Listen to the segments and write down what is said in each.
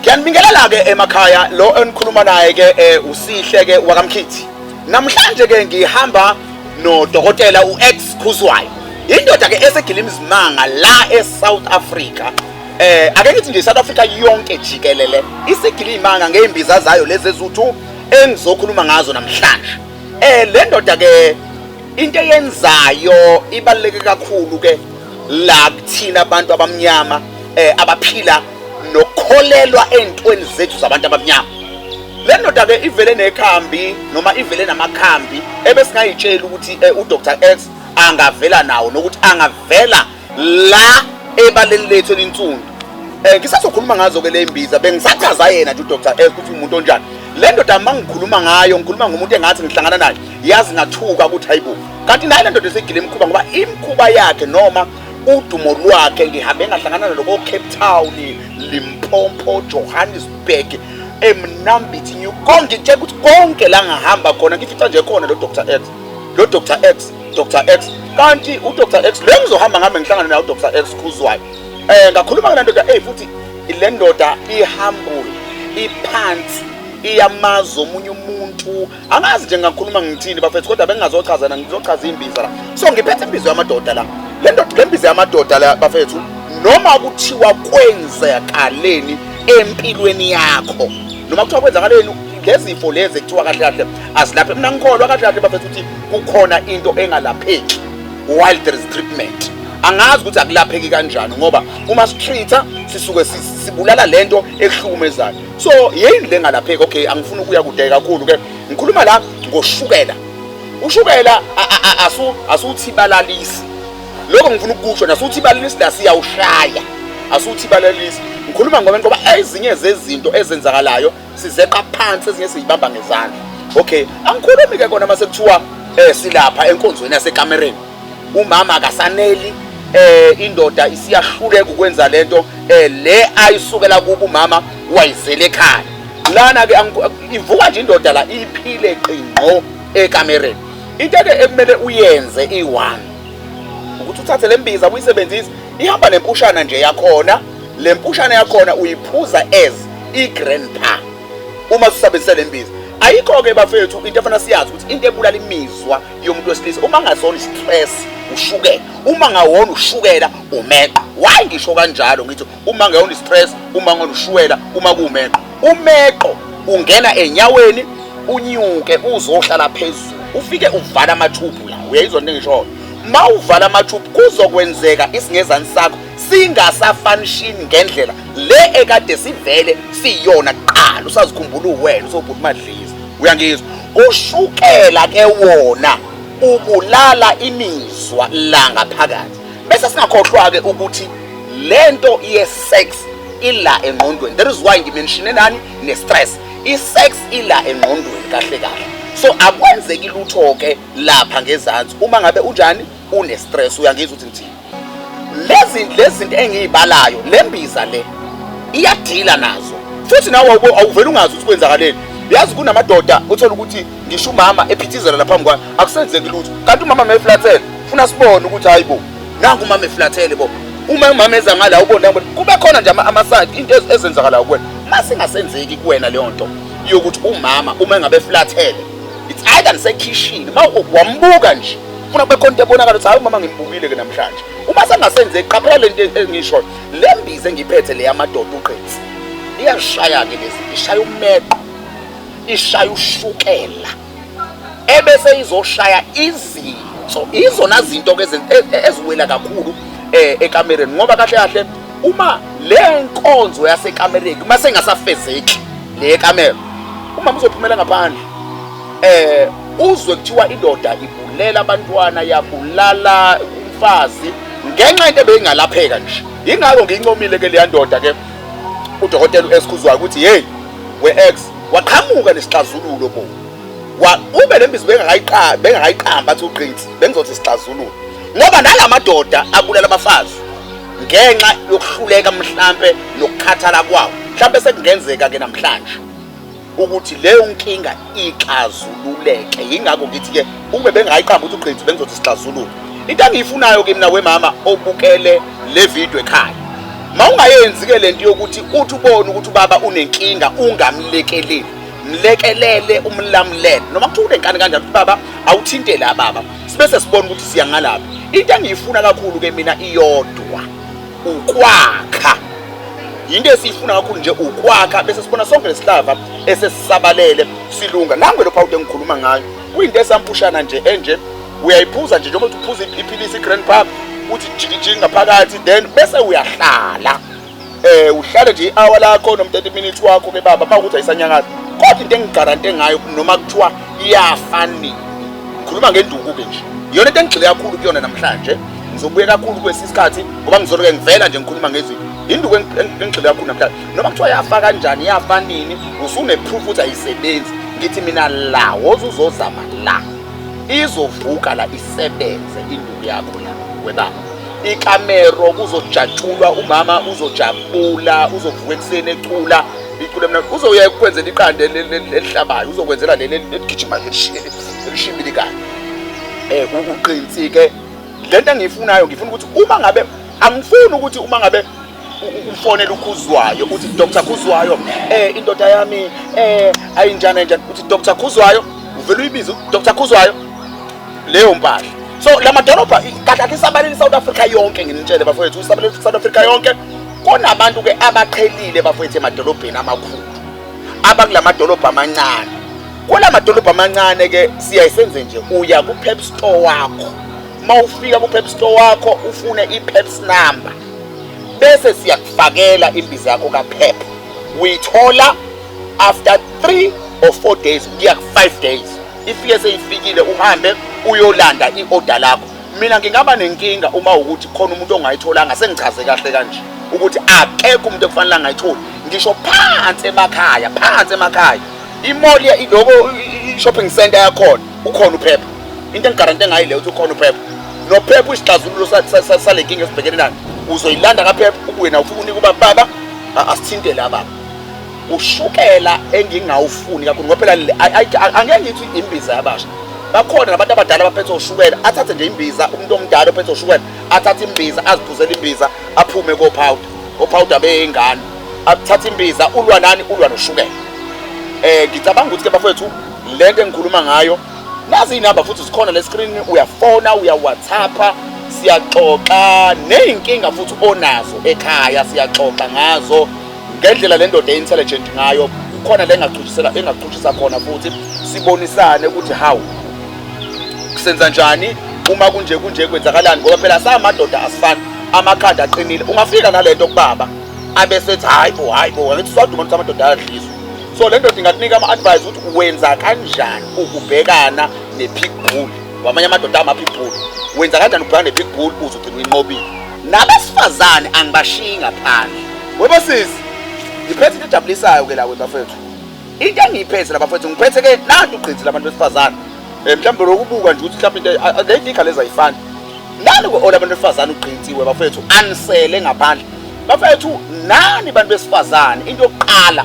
Ngiyanibingelela ke emakhaya lo enikhuluma naye ke eh, usihle ke wakamkhithi. Namhlanje ke ngihamba no dokotela uX Khuzwayo. Indoda ke esegila imizimanga la eSouth Africa. Eh ake ngithi nje South Africa yonke jikelele isigila imanga ngeimbiza zayo lezi ezuthu engizokhuluma ngazo namhlanje. Eh le ndoda ke into eyenzayo ibaluleke kakhulu ke la kuthina abantu abamnyama eh abaphila nokukholelwa entweni zethu zabantu abamnyama le ndoda ke ivele nekhambi noma ivele namakhambi ebesingayitshela ukuthi eh, uDr X angavela nawo nokuthi angavela la ebaleni lethu elinsundu eh ngisazokhuluma ngazo ke lembiza bengisachaza yena nje uDr X ukuthi umuntu onjani le ndoda mangikhuluma ngayo ngikhuluma ngomuntu engathi ngihlangana naye yazi ngathuka ukuthi hayibo kanti naye le ndoda esegile imkhuba ngoba imkhuba yakhe noma udumo lwakhe ngihambe ngahlangana nalo ko-cape town limpompo johannesburg emnambithi new kongitshela ukuthi konke la ngahamba khona ngifica nje khona lo dr x lo dr x dr x kanti udr x lo ngizohamba ngihambe ngihlangane naye udr x khuzwayo um ngakhuluma ngale ndoda eyi futhi le ndoda ihambule iphansi iyamazi omunye umuntu angazi nje ngakhuluma ngithini bafethu kodwa bengingazochazana ngizochaza imbiza la so ngiphethe imbiza yamadoda la le ndoda le mbiza yamadoda la bafethu noma kuthiwa kwenzakaleni empilweni yakho noma kuthiwa kwenzakaleni ngezifo lezi ekuthiwa kahle kahle azilaphe mina ngikholwa kahle kahle bafethu ukuthi kukhona into engalapheki while there is treatment angazi ukuthi akulapheki kanjani ngoba uma sitreat-a sisuke sibulala lento ehlukumezayo so yini le ngalapheki okay angifuni ukuya kude kakhulu ke ngikhuluma la ngoshukela ushukela asu asuthi balalisi lokho ngifuna ukusho nasuthi balalisi la siyawushaya asuthi balalisi ngikhuluma ngoba ngoba ezinye zezinto ezenzakalayo sizeqa phansi ezinye siyibamba ngezandla okay angikhulumi ke kona mase kuthiwa eh silapha enkonzweni yasekamereni umama akasaneli eh indoda isiyahluleka ukwenza lento eh le ayisukela kubo umama wayizele ekhaya lana ke ivuka nje indoda la iphile qingqo ekamereni into ke ekumele uyenze i1 ukuthi uthathe lembiza uyisebenzise ihamba nempushana nje yakhona lempushana yakhona uyiphuza as igrandpa uma usabenzise lembiza ayikho ke bafethu into efana siyazi ukuthi into ebulala imizwa yomuntu wesilisa uma ngasona stress ushukela uma ngawona ushukela umeqo why ngisho kanjalo ngithi uma ngewona stress uma ngona ushukela uma kumeqo umeqo ungena enyaweni unyuke uzohlala phezulu ufike uvala amathubhu la uyayizwa into engishoyo ma uvala amathubhu kuzokwenzeka isingezani sakho singasafanishini ngendlela le ekade sivele siyona kuqala usazikhumbula uwena usobhuti madliza uyangizwa Ushukela ke wona ubulala imizwa la ngaphakathi. Bese singakhohlwa ke ukuthi lento ye sex ila engqondweni. That is why ngimenshine nani ne stress. I sex ila engqondweni kahle kahle. So akwenzeki lutho ke lapha ngezansi uma ngabe unjani une stress uyangizwa ukuthi ngithini. lezi lezinto engiyibalayo lembiza le iyadila nazo futhi nawe awuvela ungazi ukuthi kwenzakaleni yazi kunamadoda uthola ukuthi ngisho umama ephithizela la phambi kwami akusenzeki lutho kanti umama meflathele funa sibone ukuthi hayi bo nangu umama eflathele bo uma umama eza ngala ubona kube khona nje amasayidi into ezenzakalayo kuwena uma singasenzeki kuwena leyo nto yokuthi umama uma engabe eflathele it's either nisekhishini uma wambuka nje funa kube khona into ebonakala ukuthi hayi umama ngimbukile ke namhlanje uma sengasenze qaphela le nto engishoyo le mbize engiphethe le yamadoda uqinsi liyashaya-ke lezi ishaya umeqo ishaya ushukela ebese izoshaya izinso izona zinto-ke e, e, eziwela kakhulu um ekamereni ngoba kahle kahle uma le nkonzo yasekamereni uma sengasafezeki le kamera umama uzophumela ngaphandle eh uzwe kuthiwa indoda ibulela abantwana yabulala umfazi ngenxa into ebeyingalapheka nje ingakho ngiyincomile ke leya ndoda ke udokotela uesikhuzwayo ukuthi hey we ex waqhamuka nesixazululo bo wa ube lembizo bengakayiqamba bengakayiqamba athi uqinsi bengizothi isixazululo ngoba nalamadoda abulala abafazi ngenxa yokuhluleka mhlambe nokukhathala kwawo mhlambe sekungenzeka ke namhlanje ukuthi leyo nkinga ixazululeke yingakho ngithi-ke ukube bengayiqamba ukuthi uqiniso bengizothi sixazulule into engiyifunayo ke mina wemama obukele le video ekhaya ma ungayenzi-ke le nto yokuthi uthi ubone ukuthi ubaba unenkinga ungamlekeleli mlekelele umlamulele noma kuthiwa unenkani kanjani ukuthi baba awuthintele ababa sibe sesibona ukuthi siya ngalaphi into engiyifuna kakhulu-ke mina iyodwa ukwakha yinto esiyifuna kakhulu nje ukwakha bese sibona sonke lesihlava esesisabalele silunga nangu lo phawude engikhuluma ngayo kuyinto esampushana nje enje uyayiphuza nje njengoba uphuza iphilisi i-grand pub uthi jikijiki ngaphakathi then bese uyahlala eh uhlale nje i-hour lakho noma 30 minutes wakho ke baba makuthi ayisanyakazi kodwa into engigarante ngayo noma kuthiwa iyafanini ngikhuluma ngenduku-ke nje iyona into engigxile kakhulu kuyona namhlanje ngizobuye kakhulu kwesi isikhathi ngoba ngizoloke ngivela nje ngikhuluma ngezwi induku engigxile kakhulu namhlanje noma kuthiwa yafa kanjani yafa nini usuneproof ukuthi ayisebenzi ngithi mina la woze uzozama la izovuka la isebenze induku yakho la webaba ikamero kuzojatshulwa umama uzojabula uzovuka ekuseni ecula icula mna uzoya ekwenzela iqande elihlabayo uzokwenzela leli eligijima elishimbilikayo um eh, uqinsike lento engiyifunayo ngifuna ukuthi uma ngabe angifuni ukuthi uma ngabe ufonela ukhuzwayo uthi dr khuzwayo um eh, indoda yami um eh, ayinjani enjani uthi dr khuzwayo uvele uyibize dr khuzwayo leyo mpahla so la madolobha kahle kahle isabalele isouth africa yonke nginitshele bafowethu isabalele south africa yonke kunabantu-ke abaqhelile bafowethu emadolobheni amakhulu abakula madolobha amancane Kula madolobha amancane ke siyaye senze nje uya ku Pep store wakho. Mawufika ku Pep store wakho ufune i Pep's number. Bese siyakufakela imbiza yakho ka Pep. Uyithola after 3 or 4 days kuya ku 5 days. Ifike seyifikile uhambe uyolanda i order lakho. Mina ngingaba nenkinga uma ukuthi khona umuntu ongayitholanga sengichaze kahle kanje ukuthi akekho umuntu ekufanele angayitholi ngisho phansi emakhaya phansi emakhaya imoli iloko i-shopping center yakhona ukhona uphepha into engigarante ngayo leyo ukuthi ukhona uphepha nophepha uyisixazululo sale nkinga esibhekene nayo uzoyilanda kaphepha ubuye nawo ufuna unika uba baba asithinte la baba ushukela engingawufuni kakhulu ngoba phela angeke ngithi imbiza yabasha bakhona nabantu abadala abaphethe ushukela athathe nje imbiza umuntu omdala ophethe ushukela athathe imbiza aziphuzele imbiza aphume kopowder ophawuda beyingane akuthatha imbiza ulwa nani ulwa noshukela eh ngicabanga ukuthi ke bafethu lento engikhuluma ngayo nazi inamba futhi zikhona le screen uyafona uya WhatsAppa siyaxoxa nezinkinga futhi onazo ekhaya siyaxoxa ngazo ngendlela le ndoda intelligent ngayo khona lengachutshisela engachuthisa khona futhi sibonisane ukuthi how senza njani uma kunje kunje kwenzakalani ngoba phela samadoda asifani amakhanda aqinile ungafika nalento kubaba abe sethi hayi bo hayi bo ngithi sodwa umuntu samadoda ayadliswa so le ndoda ingakunika ama-advise ukuthi wenza kanjani ukubhekana ne-pig bull wamanye amadoda ama-pig bull wenza kanjani ukubhekana ne-pig bull uze ugcine uyinqobile nabesifazane angibashiyi ngaphandle webosisi ngiphethe into ejabulisayo-ke la webafethu into engiyiphethe la bafethu ngiphethe ke nanti ugqinsi labantu besifazane um mhlawumbe lokubuka nje ukuthi mhlawumbe into leyinkinga lezi ayifani nani ku-ola abantu besifazane ugqinsiwe bafethu anisele ngaphandle bafethu nani bantu besifazane into yokuqala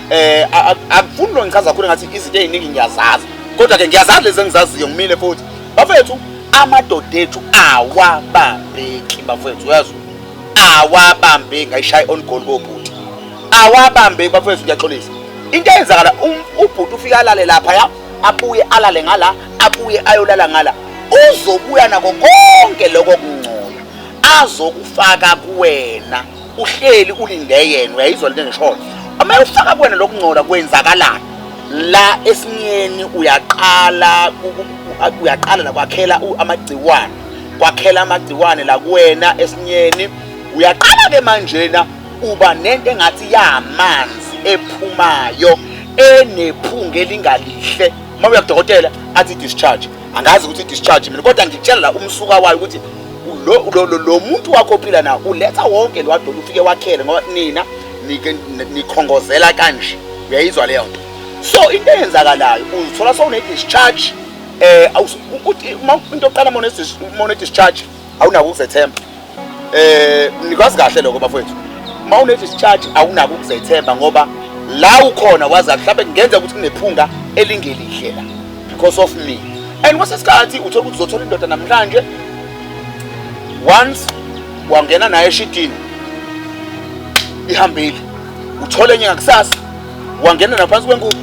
eh akufuni lo ngichaza kakhulu ngathi izinto eziningi ngiyazazi kodwa ke ngiyazazi lezi engizaziyo ngimile futhi bafethu amadoda ethu awabambeki bafethu uyazi awabambeki ngayishaya on goal kobhuti awabambe bafethu ngiyaxolisa into eyenzakala um, ubhuti ufike alale lapha ya abuye alale ngala abuye ayolala ngala uzobuya nako konke lokho kungcola azokufaka kuwena uhleli ulinde yena uyayizwa lento engishoyo uma ufaka kuwena lokungcola kwenzakalani la esinyeni uyaqala uyaqala la kwakhela amagciwane kwakhela amagciwane la kuwena esinyeni uyaqala ke manjena uba nento engathi yamanzi ephumayo enephunga elingalihle uma uya kudokotela athi discharge angazi ukuthi discharge mina kodwa ngikutshela la umsuka wayo ukuthi lo, lo, lo, lo muntu wakho ophila nawo uletha wonke lo wadolo ufike wakhele ngoba nina nikhongozela kanje uyayizwa leyo nto so into eyenzakalayo uzithola sowune-discharge um eh, into oqala mone-discharge awunako ukuzethemba eh nikwazi kahle lokho bafowethu uma unedischarge awunako ukuzethemba ngoba la ukhona wazi mhlawumbe kungenza ukuthi kunephunga elingelihle la because of me and kwase sikhathi uthola ukuthi uzothola indoda namhlanje once wangena naye eshidini ihambile uthole enye ngakusasa wangena naphansi kwenkuku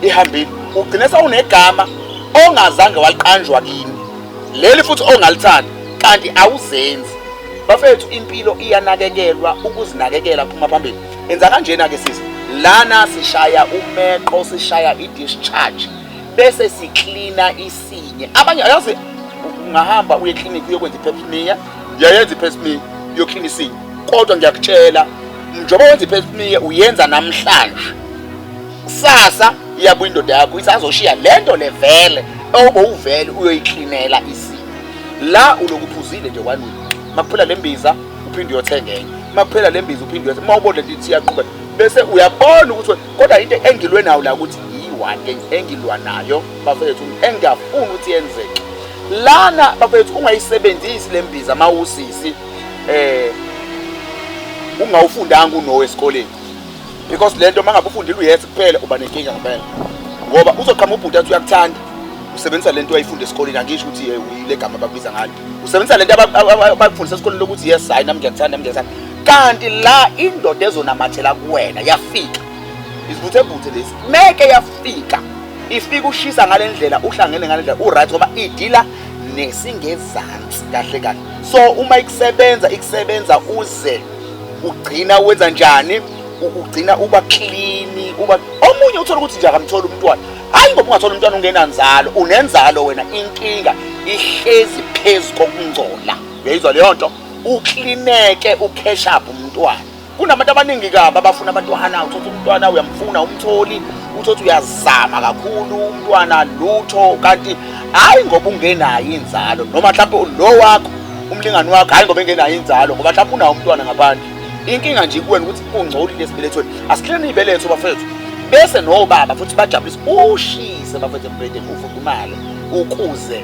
ihambile ugcine sawunegama ongazange waliqanjwa kini leli futhi ongalithandi kanti awuzenzi bafethu impilo iyanakekelwa ukuzinakekela phuma phambili enza kanjena ke sisi lana sishaya umeqo sishaya i-discharge bese siklina isinye abanye ayazi ungahamba uye clinic uyokwenza i-pepsmia uyayenza i-pepsmia uyoklina isinye kodwa ngiyakutshela njengoba wenza i-pepsmia uyenza namhlanje kusasa iyabuya indoda yakho isazoshiya le nto le vele obowuvele uyoyiklinela isimo la ulokuphuzile nje wanini makuphela le mbiza uphinde uyothenga enye makuphela le mbiza uphinde uyothenga uma ubona lithi iyaqhubeka bese uyabona ukuthi kodwa into engilwe nayo la ukuthi yiyi-one engilwa nayo bafethu engingafuni ukuthi yenzeke lana bafethu ungayisebenzisi le mbiza uma usisi um ungawufundanga unowe esikoleni because le nto uma ngabe ufundile uyese kuphela uba nenkinga ngempela ngoba uzoqhama ubhuti athi uyakuthanda usebenzisa le nto ayifunde esikoleni angisho ukuthi ye uyile gama abakubiza ngalo usebenzisa le nto abakufundisa esikoleni lokuthi yes hayi nami ngiyakuthanda nami ngiyakuthanda kanti la indoda ezonamathela kuwena yafika isivuthebuthe lesi meke yafika ifika ushisa ngale ndlela uhlangene ngale ndlela uright ngoba idila nesingezansi kahle kahle so uma ikusebenza ikusebenza uze ugcina wenza njani ugcina uba clean uba omunye uthola ukuthi nje akamtholi umntwana hayi ngoba ungathola umntwana ungenanzalo unenzalo wena inkinga ihlezi phezu kokungcola uyayizwa leyo nto uklineke ukheshaphe umntwana kunabantu abaningi kabi abafuna abantwana uthothi umntwana uyamfuna umtholi uthothi uyazama kakhulu umntwana lutho kanti hhayi ngoba ungenayo inzalo noma mhlawumpe lo wakho umlingani wakho hayi ngoba engenayo inzalo ngoba mhlawumbe unawo umntwana ngaphandle inkinga nje kuwena ukuthi ungcolile esibelethweni asihleni ibeletho bafethu bese nobaba futhi bajabulisa ushise bafethu embedeni ufudumale ukuze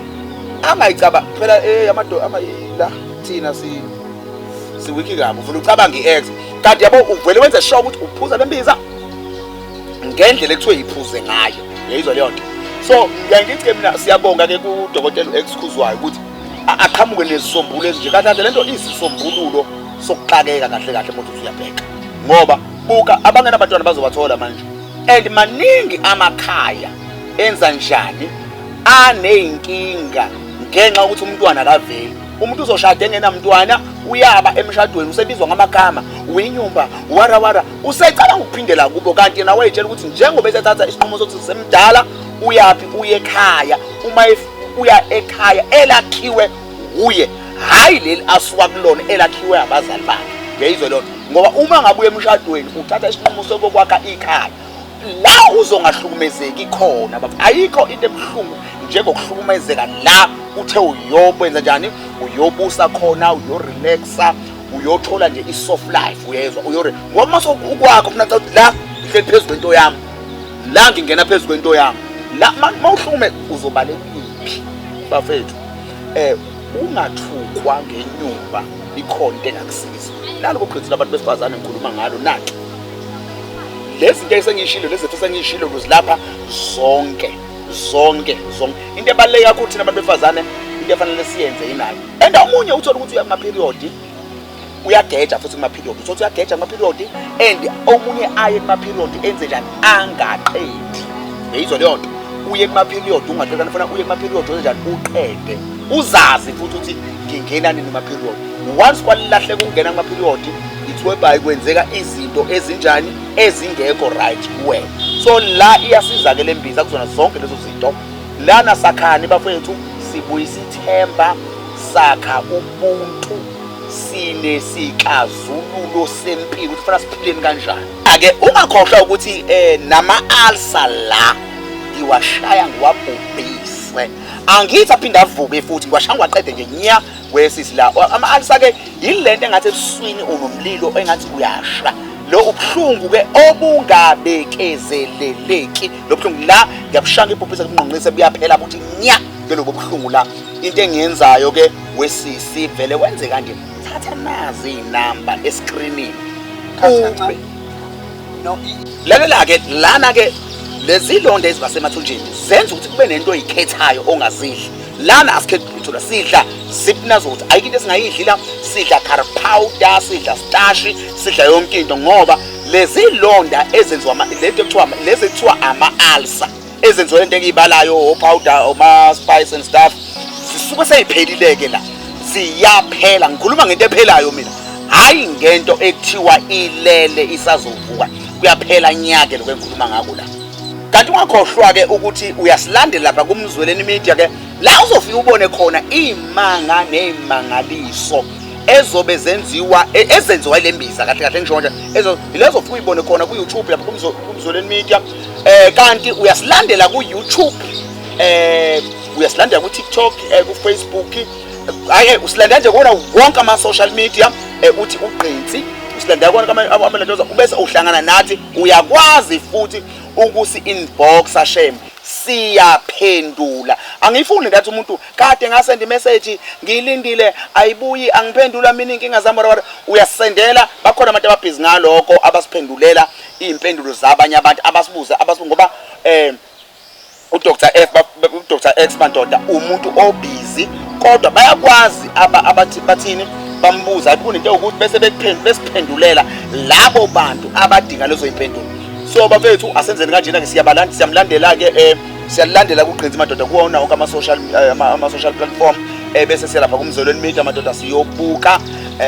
angayicaba phela eh amadoda amayila thina si siwiki kabi ufuna ucabanga i-ex kanti yabo uvele wenze sure ukuthi uphuza le mbiza ngendlela ekuthiwe yiphuze ngayo yayizwa leyo nto so ngiyangithi ke mina siyabonga ke kudokotela u-ex khuzwayo ukuthi aqhamuke nezisombululo ezinje kanti lento isisombululo sokuxakeka kahle kahle mothu uyabheka ngoba buka abangena abantwana bazobathola manje and maningi amakhaya enza njani aneyinkinga ngenxa ukuthi umntwana akaveli umuntu uzoshada engenamntwana uyaba emshadweni usebizwa ngamagama winyumba wara wara usecabanga ukuphindela kubo kanti yena wayetshela ukuthi njengoba esethatha isinqumo sokuthi semdala uyaphi uye ekhaya uma uya ekhaya elakhiwe wuye hhayi leli asuka kulona elakhiwe abazali bakhe uyayizwa lona ngoba uma ngabuya emshadweni uthatha isinqumo sokokwakha ikhaya la uzongahlukumezeki khona baba ayikho into ebuhlungu njengokuhlukumezeka la uthe uyokwenza njani uyobusa khona uyorelaxa uyothola nje i-soft life uyezwa uyore ngoba uma sokukwakho funa la ngihleli phezu kwento yami la ngingena phezu kwento yami la mawuhlume uzobalekuphi bafethu eh ungathukwa ngenyumba ikhona into engakusiza nalo kuqhithu labantu besifazane ngikhuluma ngalo nathi lezi nto esengiyishilo lezi zethu esengiyishilo luzilapha zonke zonke zonke into ebaluleke kakhulu thina abantu besifazane into efanele siyenze yinayo and omunye uthola ukuthi uyama period uyageja futhi kuma-period uthotha uyageja kuma-period and omunye aye kuma-period enze njani angaqedi yeyizwa leyo nto uye kuma-period ungahlekani funa uye kuma-period wenze njani uqede uzazi futhi ukuthi ngingena nini kuma-period once kwalilahleka ukungena kuma-period ithwebhayi kwenzeka izinto ezinjani ezingekho right kuwe so la iyasiza ke le mbiza kuzona zonke lezo zinto lana sakhani bafowethu sibuyisa ithemba sakha ubuntu sinesixazululo sempilo ukuthi fana siphileni kanjani ake ungakhohlwa ukuthi eh nama alsa la ngiwashaya ngiwabhubhise angithi aphinde avuke futhi ngiwashaya ngiwaqede nje nya wesisi la ama alsa ke yilento engathi ebuswini unomlilo engathi uyasha lo ubuhlungu ke obungabekezeleleki lo buhlungu la ngiyabushanga ibhubhisa kunqonqise buyaphela futhi nya ke lobo buhlungu la into engiyenzayo ke wesisi vele wenze kanje thatha nazi inamba escreenini lalela ke lana ke lezi londa ezibasemathunjini zenza ukuthi kube nento oyikhethayo ongazidli lana asikhethi lutho la sidla sipna zokuthi ayikho into esingayidli la sidla car powder sidla starch sidla yonke into ngoba lezi londa ezenziwa lento ekuthiwa lezi ekuthiwa ama-alsa ezenziwa lento engiyibalayo opowder oma-spice and stuff zisuke seyiphelile-ke la ziyaphela ngikhuluma ngento ephelayo mina hhayi ngento ekuthiwa ilele isazovuka kuyaphela nyake lokho engikhuluma ngako la kanti ungakhohlwa-ke ukuthi uyasilandela lapha kumzweleni media-ke la uzofike ubone khona iy'manga ney'mangaliso ezobe zenziwa e, ezenziwa ile mbiza kahle kahle ngisho nje yilezofike uyibone khona ku-youtube lapha kumzweleni media eh kanti uyasilandela ku YouTube eh uyasilandela ku TikTok eh ku Facebook hayi eh, usilandela nje kona wonke ama social media eh uthi ugqinsi usilandela kona kama amalendoza ubese uhlangana nathi uyakwazi futhi ukusi inboxa shame siyaphendula angifuni ngathi umuntu kade ngasenda imessage ngilindile ayibuyi angiphendula mina inkinga zami wara uyasendela bakhona abantu ababhizi ngaloko abasiphendulela iy'mpendulo zabanye abantu abasibuze abasibu ngoba um udr f udr x bandoda umuntu obhizi kodwa bayakwazi abathi bathini bambuza ayibona into yokuthi bese besiphendulela labo bantu abadinga lezo y'mpendulo so bafethu asenzeni kanjena-ke siyabalanda siyamlandela-ke um eh, siyalandela kugqinza madoda kuwona wonke ama-social eh, ama-social platform um bese siyalapha kumzolweni media madoda siyobuka